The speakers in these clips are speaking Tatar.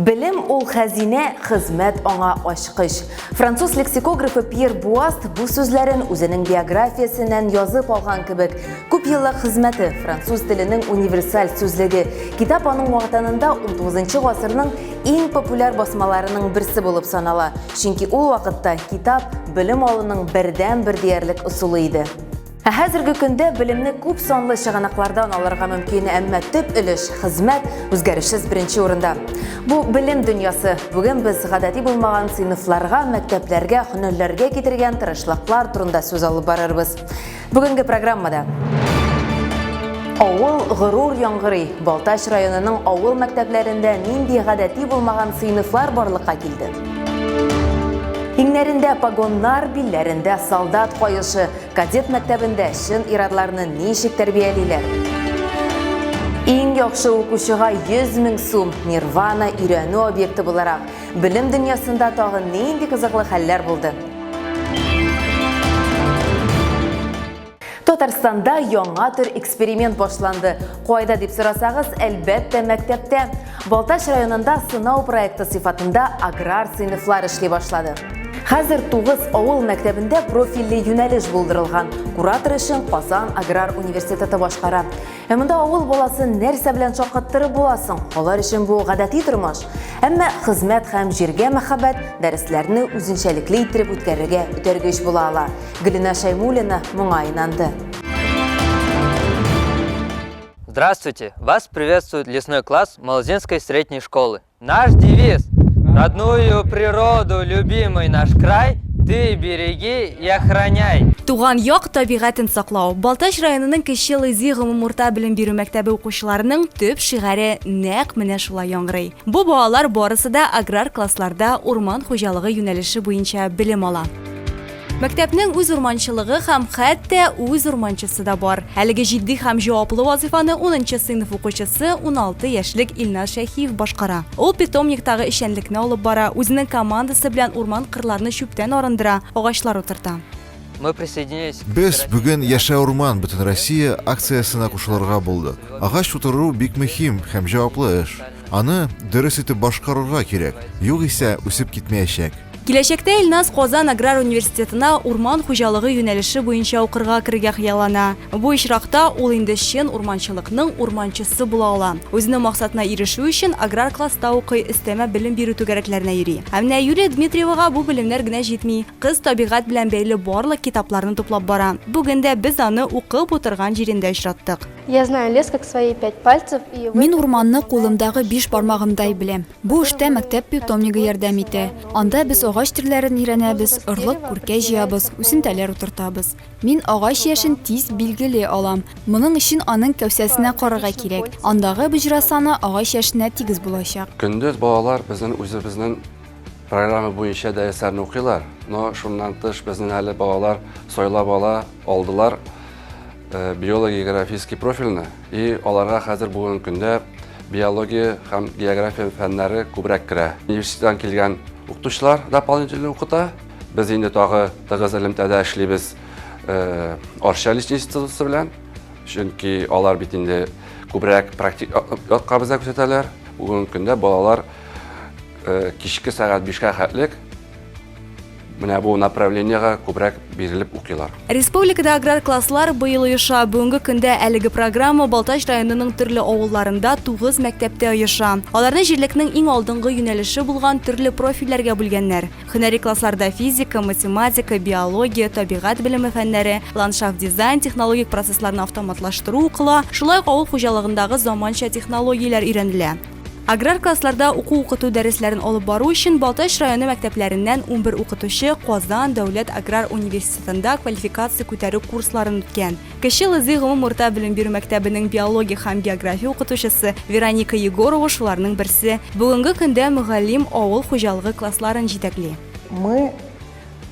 Белем ул хәзинә, хезмәт аңа ачкыч. Француз лексикографы Пьер Буаст бу сүзләрен үзенең биографиясеннән язып алган кебек. Күп еллык хезмәте, француз теленең универсаль сүзлеге. Китап аның вакытында 19 гасырның иң популяр басмаларының берсе булып санала, чөнки ул вакытта китап белем алуның бердәнбер диярлек ысулы иде. Ә хәзерге көндә белемне күп санлы чыганаклардан алырга мөмкин, әмма төп өлеш хезмәт үзгәрешсез беренче урында. Бу белем дөньясы. Бүген без гадәти булмаган сыйныфларга, мәктәпләргә, һөнәрләргә китергән тырышлыклар турында сүз алып барырбыз. Бүгенге программада Авыл горур яңгырый. Балтач районының авыл мәктәпләрендә нинди гадәти булмаган сыйныфлар барлыкка килде? Иңнәрендә погоннар, билләрендә солдат каешы. Кадет мәктәбендә чын ирадларны ничек тәрбиялиләр? Иң яхшы укучыга 100 мең сум Нирвана өйрәнү объекты буларак белем дөньясында тагы нинди кызыклы хәлләр булды? Татарстанда яңа төр эксперимент башланды. Кайда дип сорасагыз, әлбәттә, мәктәптә. Балтач районында сынау проекты сыйфатында аграр сыйныфлар эшли башлады. Хәзер тугыз авыл мәктәбендә профильле юнәлеш булдырылган. Куратор эшен Казан аграр университеты башкара. Ә монда авыл баласын нәрсә белән шаккаттырып буласың? Алар өчен бу гадәти тормыш. Әмма хезмәт һәм җиргә мәхәббәт дәресләрне үзенчәлекле иттереп үткәрергә үтәргеч була ала. Гөлинә Шәймуллина моңа инанды. Здравствуйте! Вас приветствует лесной класс Молозинской средней школы. Наш девиз! Родную природу, любимый наш край, ты береги и охраняй! Туган як табигатен саклау. Балтач районының Кече Лызи гомум урта белем бирү мәктәбе укучыларының төп шигаре нәкъ менә шулай яңгырый. Бу балалар барысы да аграр классларда урман хуҗалыгы юнәлеше буенча белем ала. Мәктәпнең үз урманчылыгы һәм хәтта үз урманчысы да бар. Әлеге җитди һәм җаваплы вазыйфаны 10 сыйныф укучысы 16 яшьлек Илназ Шәйхиев башкара. Ул питомниктагы эшчәнлекне алып бара, үзенең командасы белән урман-кырларны чүптән арындыра, агачлар утырта. Без бүген Яшә урман, Бөтенроссия акциясенә кушылырга булдык. Агач утыру бик мөһим һәм җаваплы эш. Аны дөрес итеп башкарырга кирәк, югыйсә үсеп китмәячәк. Киләчәктә Илназ Казан аграр университетына урман хуҗалыгы юнәлеше буенча укырга керергә хыяллана. Бу очракта ул инде чын урманчылыкның урманчысы була ала. Үзенең максатына ирешү өчен аграр класста укый, өстәмә белем бирү түгәрәкләренә йөри. Ә менә Юлия Дмитриевага бу белемнәр генә җитми. Кыз табигать белән бәйле барлык китапларны туплап бара. Бүген дә без аны укып утырган җирендә очраттык. Мин урманны кулымдагы биш бармагымдай беләм. Бу эштә мәктәп питомнигы ярдәм итә. Анда без агач төрләрен өйрәнәбез, орлык, күркә җыябыз, үсентәләр утыртабыз. Мин агач яшен тиз билгели алам. Моның өчен аның кәүсәсенә карарга кирәк. Андагы боҗра саны агач яшенә тигез булачак. Көндез балалар безнең үзебезнең программа буенча дәресләрне укыйлар, но шуннан тыш безнең әле балалар сайлап ала алдылар. Э, биология-географический профильны и аларга хәзер бүгенге көндә биология һәм география фәннәре күбрәк керә. Университеттан килгән укытучылар дополнительно укыта. Без инде тагы тыгыз элемтәдә эшлибез э, Арча личный институты белән, чөнки алар бит инде күбрәк практик якка безгә күрсәтәләр. Бүгенге көндә балалар э, кичке сәгать 5-кә хәтлек Менә бу направлениегә күбрәк бирелеп укыйлар. Республикада аграр класслар быел оеша. Бүгенге көндә әлеге программа Балтач районының төрле авылларында тугыз мәктәптә оеша. Аларны җирлекнең иң алдынгы юнәлеше булган төрле профильләргә бүлгәннәр. Һөнәри классларда физика, математика, биология, табигать белеме фәннәре, ландшафт-дизайн, технологик процессларны автоматлаштыру укыла, шулай ук авыл хуҗалыгындагы заманча технологияләр өйрәнелә. Аграр классларда уку-укыту дәресләрен алып бару өчен Балтач районы мәктәпләреннән унбер укытучы Казан дәүләт аграр университетында квалификация күтәрү курсларын үткән. Кече Лызый гомум урта белем бирү мәктәбенең биология һәм география укытучысы Вероника Егорова шуларның берсе. Бүгенге көндә мөгаллим авыл хуҗалыгы классларын җитәкли. Мы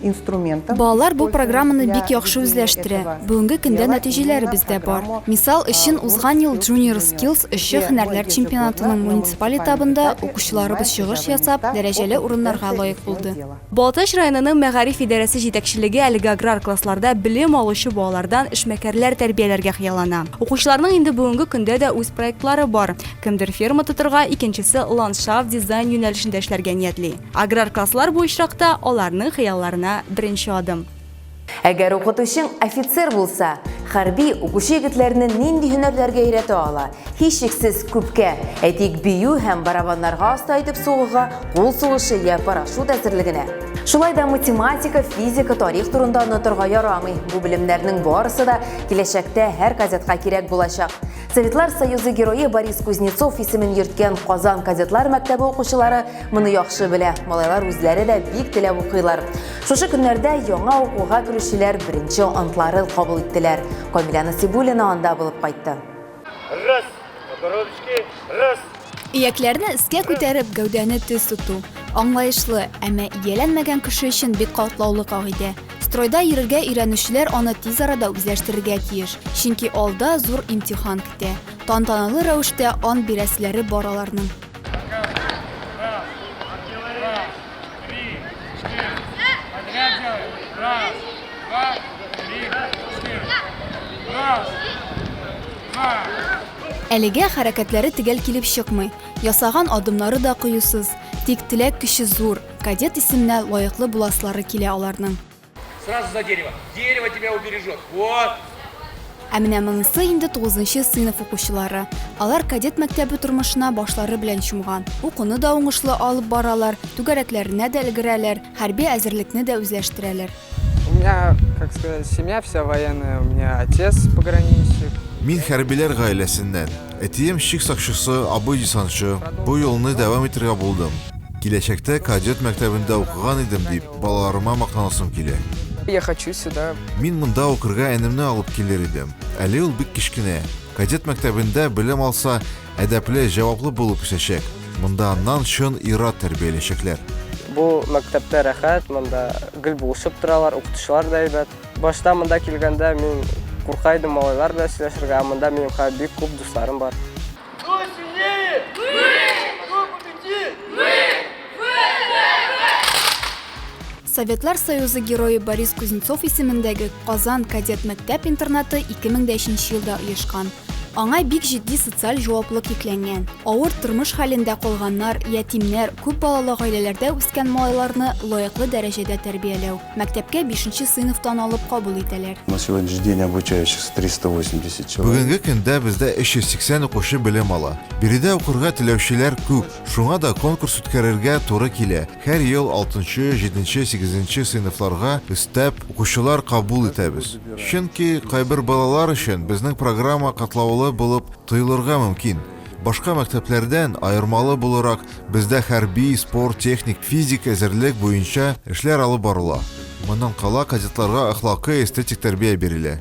инструментом. Балалар бу программаны бик яхшы үзләштерә. Бүгенге көндә нәтиҗәләребез дә бар. Мисал өчен, узган ел Junior Skills эшче һөнәрләр чемпионатының муниципаль этабында укучыларыбыз чыгыш ясап, дәрәҗәле урыннарга лаек булды. Балтач районының мәгариф идарәсе җитәкчелеге әлеге аграр классларда белем алучы балалардан эшмәкәрләр тәрбияләргә хыяллана. Укучыларның инде бүгенге көндә дә үз проектлары бар. Кемдер ферма тотырга, икенчесе ландшафт, дизайн юнәлешендә эшләргә ниятли. Аграр класслар бу очракта аларның хыялларына беренче адым. Әгәр укытучың офицер булса, хәрби, укучы егетләрне нинди һөнәрләргә өйрәтә ала? Һичшиксез, күпкә. Әйтик, бию һәм барабаннарга оста итеп сугуга, кул сугышы йә парашют әзерлегенә. Шулай да математика, физика, тарих турында онытырга ярамый, бу белемнәрнең барысы да киләчәктә һәр кадетка кирәк булачак. Советлар Союзы Герое Борис Кузнецов исемен йөрткән Казан кадетлар мәктәбе укучылары Моны яхшы белә, малайлар үзләре дә бик теләп укыйлар. Шушы көннәрдә яңа укуга керүчеләр беренче антларын кабул иттеләр. Камилә Насибуллина анда булып кайтты. Раз, ручки, раз. Иякләрне өскә күтәреп, гәүдәне төз тоту, аңлаешлы, әмма ияләнмәгән кеше өчен бик катлаулы кагыйдә. Стройда йөрергә өйрәнүчеләр аны тиз арада үзләштерергә тиеш, чөнки алда зур имтихан көтә. Тантаналы рәвештә ант бирәселәре бар аларның. Әлегә хәрәкәтләре төгәл килеп чыкмый, ясаган адымнары да кыюсыз, тик теләк көче зур, кадет исеменә лаеклы буласылары килә аларның. Сразу за дерево. Дерево тебя убережет. Вот. Ә менә монысы инде 9 сыйныф укучылары. Алар кадет мәктәбе тормышына башлары белән чумган. Укуны да уңышлы алып баралар, түгәрәкләренә дә өлгерәләр, хәрби әзерлекне дә үзләштерәләр. У меня, как сказать, семья вся военная, у меня отец пограничник. Мин хәрбиләр гаиләсеннән. Әтием чик сакчысы, абый десантчы. Бу юлны дәвам итергә булдым. Киләчәктә кадет мәктәбендә укыган идем, дип, Балаларыма мактанасым килә. Я хочу сюда. Мин монда укырга энемне алып килер идем. Әле ул бик кечкенә. Кадет мәктәбендә белем алса, әдәпле, җаваплы булып үсәчәк. Монда аннан чын ир-ат тәрбияләячәкләр. Бу мәктәптә рәхәт, монда гел булышып торалар, укытучылар да әйбәт. Башта монда килгәндә мин курка идем малайлар белән сөйләшергә, ә монда минем хәзер бик күп дусларым бар. Советлар Союзы герое Борис Кузнецов исемендәге Казан кадет мәктәп-интернаты 2003 елда оешкан. Аңа бик җитди социаль җаваплылык йөкләнгән. Авыр тормыш хәлендә калганнар, ятимнәр, күп балалы гаиләләрдә үскән малайларны лаеклы дәрәҗәдә тәрбияләү. Мәктәпкә бишенче сыйныфтан алып кабул итәләр. На сегодняшний день обучающихся 380 человек. Бүгенге көндә бездә 380 укучы белем ала. Биредә укырга теләүчеләр күп, шуңа да конкурс үткәрергә туры килә. Һәр ел алтынчы, җиденче, сигезенче сыйныфларга өстәп укучылар кабул итәбез. Чөнки кайбер балалар өчен безнең программа катлаулы булып тоелырга мөмкин. Башка мәктәпләрдән аермалы булырак, Бездә хәрби, спорт, техник, физик әзерлек буенча эшләр алып барыла. Моннан кала кадетларга әхлакый, эстетик тәрбия бирелә.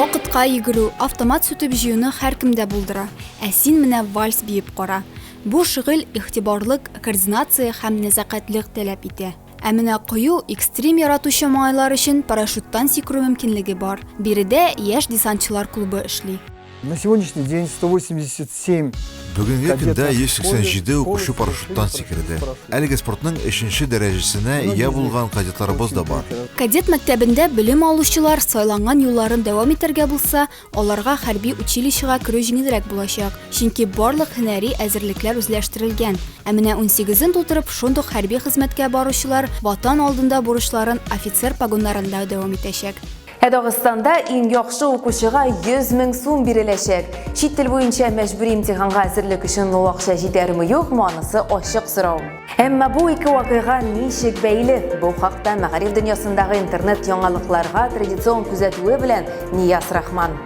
Вакытка йөгерү, автомат сүтеп җыюны һәркемдә булдыра. Ә син менә вальс биеп кара. Бу шөгыль игътибарлык, координация һәм нәзакәтлек таләп итә. Ә менә кыю, экстрим яратучы малайлар өчен парашюттан сикерү мөмкинлеге бар. Биредә яшь десантчылар клубы эшли. На сегодняшний день 187. Бүгенге көндә 187 укучы парашюттан сикерде. Әлеге спортның өченче дәрәҗәсенә ия булган кадетларыбыз да бар. Кадет мәктәбендә белем алучылар сайланган юлларын дәвам итәргә булса, Аларга хәрби училищега керү җиңелрәк булачак, чөнки барлык һөнәри әзерлекләр үзләштерелгән. Ә менә унсигезен тутырып, шундук хәрби хезмәткә баручылар Ватан алдында бурычларын офицер погоннарында дәвам итәчәк. Ә Дагыстанда иң яхшы укучыга 100 мең сум биреләчәк. Чит тел буенча мәҗбүри имтиханга әзерлек өчен ул акча җитәрме-юкмы, анысы ачык сорау. Әмма бу ике вакыйга ничек бәйле? Бу хакта мәгариф дөньясындагы интернет яңалыкларга традицион күзәтүе белән Нияз Рахман.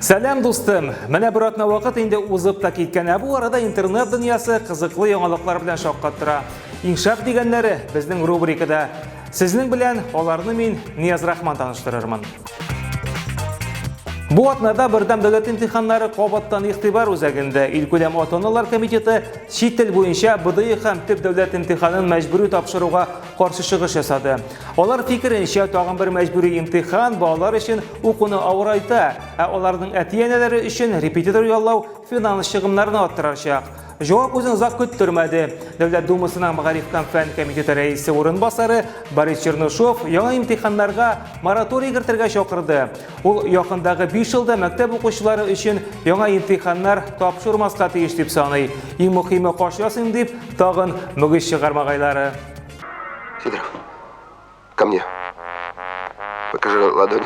Сәлам дустым! Менә бер атна вакыт инде узып та киткән, ә бу арада интернет дөньясы кызыклы яңалыклар белән шаккаттыра. Иншак дигәннәре безнең рубрикада Сезнең белән аларны мин Нияз Рахман таныштырырмын. Бу атнада Бердәм дәүләт имтиханнары кабаттан игътибар үзәгендә илкүләм ата-аналар комитеты чит тел буенча БДИ һәм төп дәүләт имтиханын мәҗбүри тапшыруга каршы чыгыш ясады. Алар фикеренчә, тагын бер мәҗбүри имтихан балалар өчен укуны авырайта, ә аларның әти-әнәләре өчен репетитор яллау финанс чыгымнарны арттырачак. Җавап үзен озак көттермәде. Дәүләт Думасының мәгариф һәм фән комитеты рәисе урынбасары Борис Чернышов яңа имтиханнарга мораторий кертергә чакырды. Ул якындагы 5 елда мәктәп укучылары өчен яңа имтиханнар тапшырмаска тиеш дип саный. Иң мөхиме каш ясыйм дип, тагын мөгез чыгар магайлары. Сидоров, ко мне. Покажи ладони.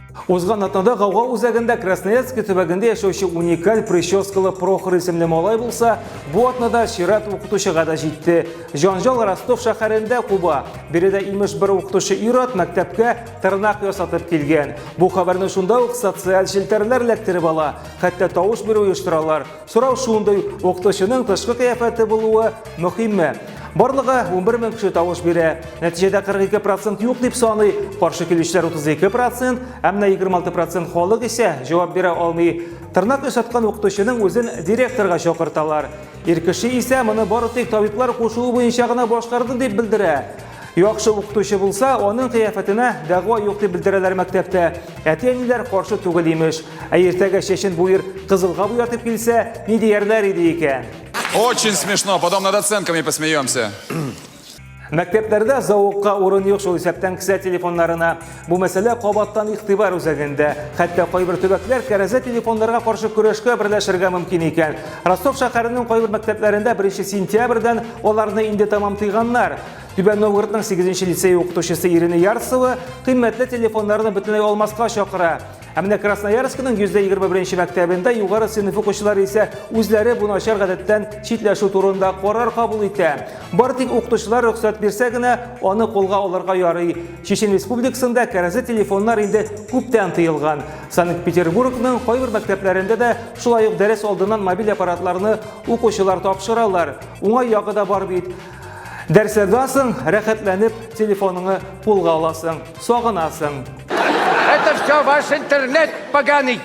Узган атнада Гауга үзәгендә Красноярский төбәгендә яшәүче уникаль прическалы Прохор исемле малай булса, бу атнада чират укытучыга да җитте. Җанжал Ростов шәһәрендә куба. Биредә имеш бер укытучы ир-ат мәктәпкә тырнак ясатып килгән. Бу хәбәрне шунда ук социаль челтәрләр эләктереп ала, хәтта тавыш бирү оештыралар. Сорау шундый, укытучының тышкы кыяфәте булуы мөһимме? Барлыгы 11 мең кеше тавыш бирә. Нәтиҗәдә 42 процент юк дип саный, каршы килүчеләр 32 процент, ә менә 26 процент халык исә җавап бирә алмый. Тырнак ошаткан укытучының үзен директорга чакырталар. Ир кеше исә моны бары тик табиблар кушуы буенча гына башкарды дип белдерә. Яхшы укытучы булса, аның кыяфәтенә дәгъва юк дип белдерәләр мәктәптә. Әти-әниләр каршы түгел имеш. Ә иртәгә чәчен буер кызылга буятып килсә, ни диярләр иде икән? Очень смешно, потом над оценками посмеемся. Мәктәпләрдә зауыкка урын юк шул исәптән кесә телефоннарына. Бу мәсьәлә кабаттан игътибар үзәгендә. Хәтта кайбер төбәкләр кәрәзә телефоннарга каршы көрәшкә берләшергә мөмкин икән. Ростов шәһәренең кайбер мәктәпләрендә 1 сентябрьдән аларны инде тәмам тыйганнар. Түбән Новгородның 8 лицее укытучысы Ирина Ярцева кыйммәтле телефоннарны бөтенләй алмаска чакыра. Ә менә Красноярскның 121 мәктәбендә югары сыйныф укучылары исә үзләре бу начар гадәттән читләшү турында карар кабул итә. Бар тик укытучылар рөхсәт бирсә генә, аны кулга алырга ярый. Чечен республикасында кәрәзле телефоннар инде күптән тыелган. Санкт-Петербургның кайбер мәктәпләрендә дә шулай ук дәрес алдыннан мобиль аппаратларны укучылар тапшыралар. Уңай ягы да бар бит. Дәрсләрдән соң рәхәтләнеп телефоныңны кулга аласың, сагынасың. Это все ваш интернет поганый.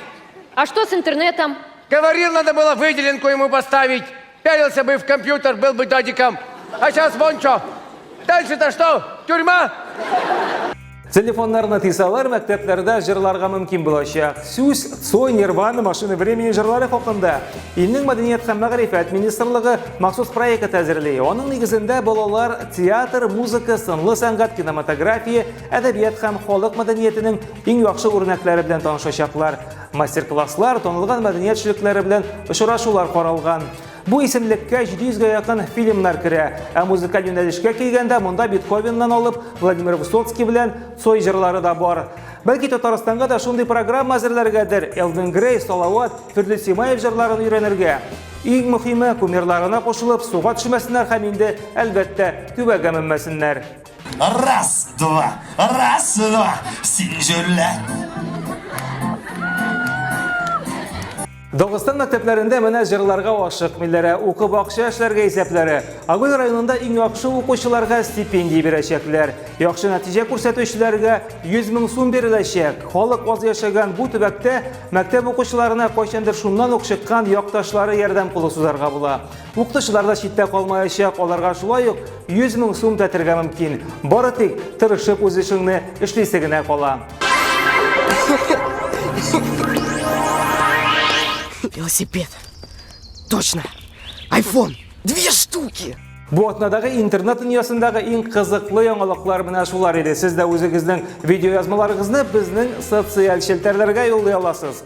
А что с интернетом? Говорил, надо было выделенку ему поставить. Пялился бы в компьютер, был бы дадиком. А сейчас вон что. Дальше-то что? Тюрьма? Телефоннарны тыйсалар, мәктәпләрдә җырларга мөмкин булачак. Сүз Цой Нирвана машины времени җырлары хакында. Илнең мәдәният һәм мәгърифәт министрлыгы махсус проект әзерли. Аның нигезендә балалар театр, музыка, сынлы сәнгать, кинематография, әдәбият һәм халык мәдәниятенең иң яхшы үрнәкләре белән танышачаклар. Мастер-класслар, танылган мәдәният эшлекләре белән очрашулар каралган. Бу исемлеккә 700 гә якын фильмнар керә, ә музыкаль юнәлешкә килгәндә монда Бетховеннан алып Владимир Высоцкий белән Цой җырлары да бар. Бәлки Татарстанга да шундый программа әзерләргәдер, Элвин Грей, Салават, Фирдүс Симаев җырларын өйрәнергә. Иң мөхиме, кумирларына кушылып, суга төшмәсеннәр һәм инде, әлбәттә, күбәгә менмәсеннәр. Раз, два, раз, два, син җүллә. Дагыстан мәктәпләрендә менә җырларга ашык милләре, укып акча эшләргә исәпләре. Агул районында иң яхшы укучыларга стипендия бирәчәкләр. Яхшы нәтиҗә күрсәтүчеләргә 100 мең сум биреләчәк. Халык аз яшәгән бу төбәктә мәктәп укучыларына кайчандыр шуннан ук чыккан якташлары ярдәм кулы сузарга була. Укытучылар да читтә калмаячак, аларга шулай ук 100 мең сум тәтергә мөмкин. Бары тик тырышып үз эшеңне эшлисе генә кала. Велосипед. Точно. Айфон. Две штуки. Бу атнадагы интернет дөньясындагы иң кызыклы яңалыклар менә шулар иде. Сез дә үзегезнең видеоязмаларыгызны безнең социаль челтәрләргә юллый аласыз.